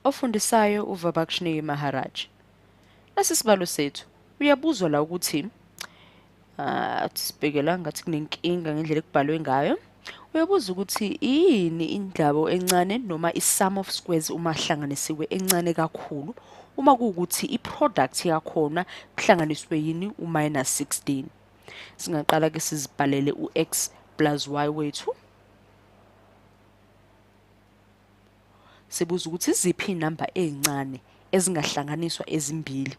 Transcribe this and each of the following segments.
Ofundisayo uVabakshni Maharaj. Nasi sibalo sethu. Uyabuzwa la ukuthi ah sibhekela ngathi kunenkinga ngendlela ekubhalwe ngayo. Uyabuza ukuthi yini indlabo encane noma i-sum of squares uma hlanganisiwe encane kakhulu uma kuwukuthi i-product yakhona kuhlanganiswe yini u-minus 16. Singaqala-ke sizibhalele u-x plus y wethu. Sibuza ukuthi iziphi inamba ezincane ezingahlanganiswa ezimbili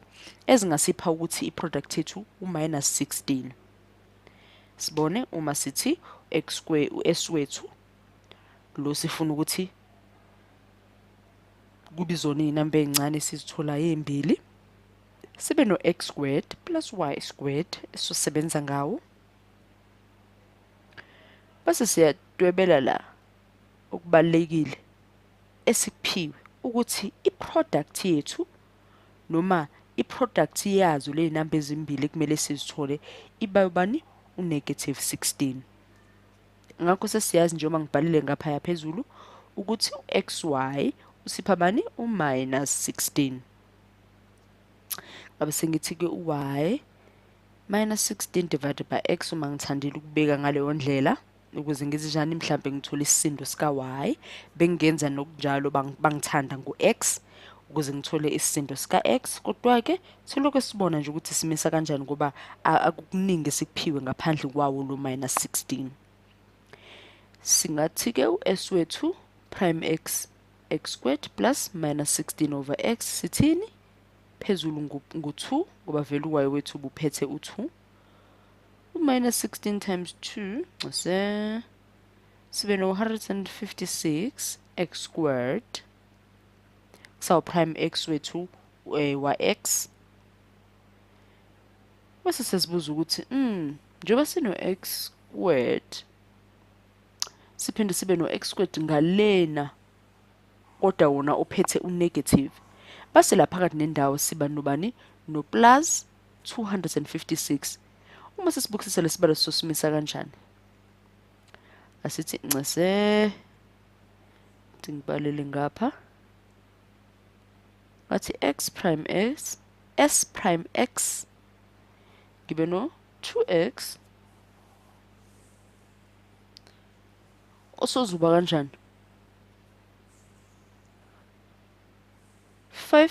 ezingasipha ukuthi iproduct yethu u-minus 16. Sibone uma sithi u-x square u-s wethu lo sifuna ukuthi kube izona izinamba ezincane sizithola ezimbili sibe no-x squared plus y squared esizosebenza ngawo bese siyadwebela la okubalulekile esikuphiwe ukuthi i-product yethu noma i-product yazo le namba ezimbili kumele sizithole iba ubani u-negative 16 ngakho sesiyazi njengoba ngibhalile ngaphaya phezulu ukuthi u-x y usipha bani u-minus 16 ngabe sengithi-ke u-y minus 16 divided by x uma ngithandile ukubeka ngaleyo ndlela ukuze ngithi njani mhlambe ngithola isisindo sika Y bengenza nokunjalo bangithanda ngu X ukuze ngithole isisindo sika X kodwa ke selokhu sibona nje ukuthi simisa kanjani ngoba akukuningi sikuphiwe ngaphandle kwawo lo minus 16 singathi ke u S wethu prime X x squared plus minus 16 over x sithini phezulu ngu-2 ngoba vele uwayo wethu ubuphethe u-2 U-minus 16 times 2 ncese sibe no-156 x squared kusawuprime x wethu eh, wa-x bese sesibuza ukuthi mm, njengoba sino-x squared siphinde sibe no-x squared ngalena kodwa wona ophethe unegative base la phakathi nendawo siba nobani noplus 256 uma sesibukisisa lesibalo sosimisa kanjani asithi ncese ngibhalele ngapha ngathi x prime s s prime x ngibe no 2x osozuba kanjani 5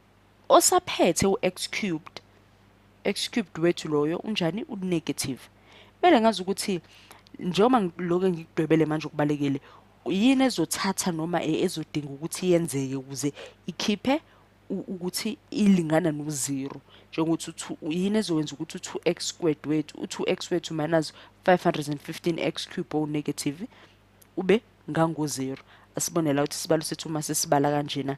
osaphethe u-x cubed x cubed wethu loyo unjani unegative kumele ngazi ukuthi njengoba ngiloke ngikudwebele manje okubalekile yini ezothatha noma e, ezodinga ukuthi yenzeke ukuze ikhiphe ukuthi ilingana no-zero njengokuthi yini ezokwenza ukuthi u-2x squared wethu u-2x wethu minus 515x cube o negative ube ngango-zero asibone la ukuthi isibalo sethu uma sesibala kanjena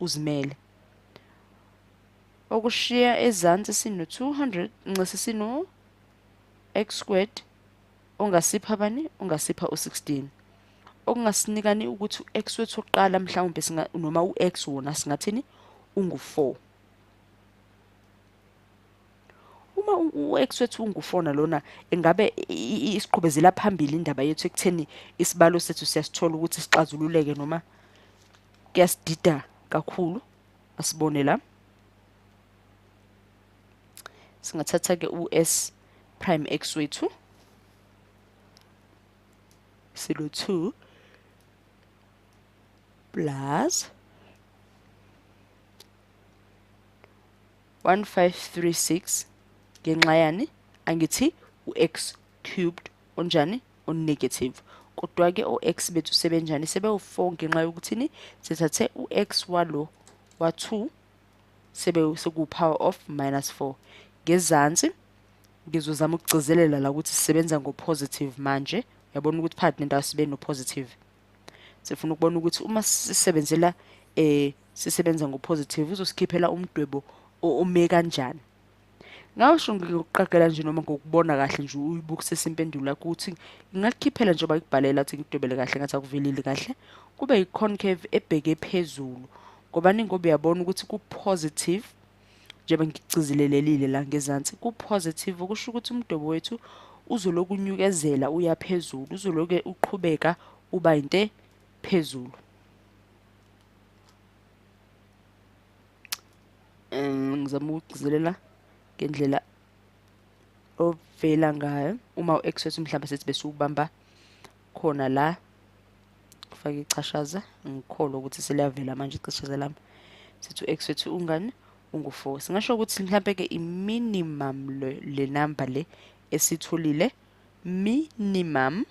uzimele. Okushiya ezansi sino-200 nxese sino-x squared ongasipha bani ongasipha u-16 okungasinikani ukuthi u-x wethu wokuqala mhlawumbe noma u-x wona singathini ungu-4 uma u-ex-wethu ungufona lona engabe isiqhubezela phambili indaba yethu ekutheni isibalo sethu siyasithola ukuthi sixazululeke noma kuyasidida kakhulu asibone la singathatha ke u-s prime x wethu silo 2 plus 1536 ngenxa yani angithi u-x cubed onjani onegative kodwa-ke o-x bethu sebenjani sebewu-4 ngenxa yokuthini sithathe u-x walo wa-2 sekuwu-power of minus 4 ngezansi ngizozama ukugcizelela la ukuthi sisebenza ngo-positive manje uyabona ukuthi phakathi nendawo sibe no-positive sifuna ukubona ukuthi uma sisebenzela eh sisebenza ngopositive uzosikhiphela umdwebo ome kanjani ngasho ngikuqagela nje noma ngokubona kahle nje uyibukisisa impendulo yakho ukuthi ingakukhiphela njengoba ikubhalela ukuthi ngidwebele kahle ngathi akuvelile kahle kube yi-concave ebheke phezulu ngoba ningoba uyabona ukuthi ku-positive njengoba ngicizilelelile la ngezansi ku-positive kusho ukuthi umdobo wethu uzoloku unyukezela uya phezulu uzoloke uqhubeka uba yinte phezulu um ngizama ukugcizelela ngendlela ovela ngayo uma u-x wethu mhlawumbe sethi besiwubamba khona la ngifake ichashaza ngikholwa ukuthi seliyavela manje ichashaza lami sithi u-x wethu ungani ungu-four singasho ukuthi mhlawumpe-ke i-minimum le, le number le esitholile minimum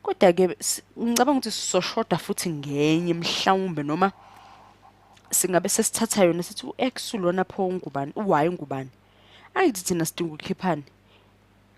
kodwa-ke ngicabanga ukuthi sizoshoda futhi ngenye mhlawumbe noma singabe sesithatha yona sithi u-x ulona pho ungubani u-y ungubani angithi thina sidinga ukukhiphani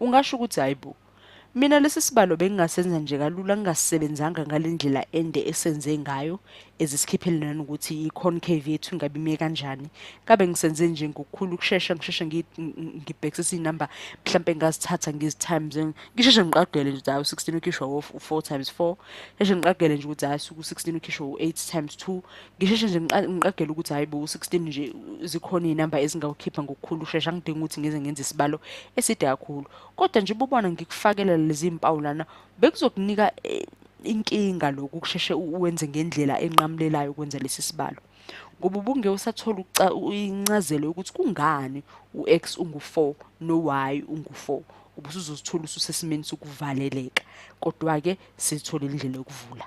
Ungasho ukuthi hayi bo. Mina lesi sibalo bengingasenza nje kalula ngingasisebenzanga ngale ndlela ende esenze ngayo ezisikhiphele nanokuthi i-concave yethu ingabe ime kanjani kabe ngisenze nje ngokukhulu ukushesha ngisheshe ngibhekisisa iy'number mhlawumpe ngingazithatha ngezi-times ngisheshe ngiqagele nje ukuthi hayi u-sixteen ukhishwa wo-four times four sheshe ngiqagele nje ukuthi hayi suku-sixteen ukhishwa u-eight times two ngisheshe nje ngiqagela ukuthi hayi bo 16 nje zikhona izinamba ezingawukhipha ngokukhulu shesha ngidinga ukuthi ngize ngenze isibalo eside kakhulu kodwa nje ubona ngikufakela lezi impawu lana bekuzokunika eh, inkinga lokhu kusheshe uwenze ngendlela enqamulelayo ukwenza lesi sibalo ngoba ubunge usathola incazelo yokuthi kungani u-x ungu-4 no-y ungu-4 ubusuzozithola ususesimeni sokuvaleleka kodwa-ke sithole indlela yokuvula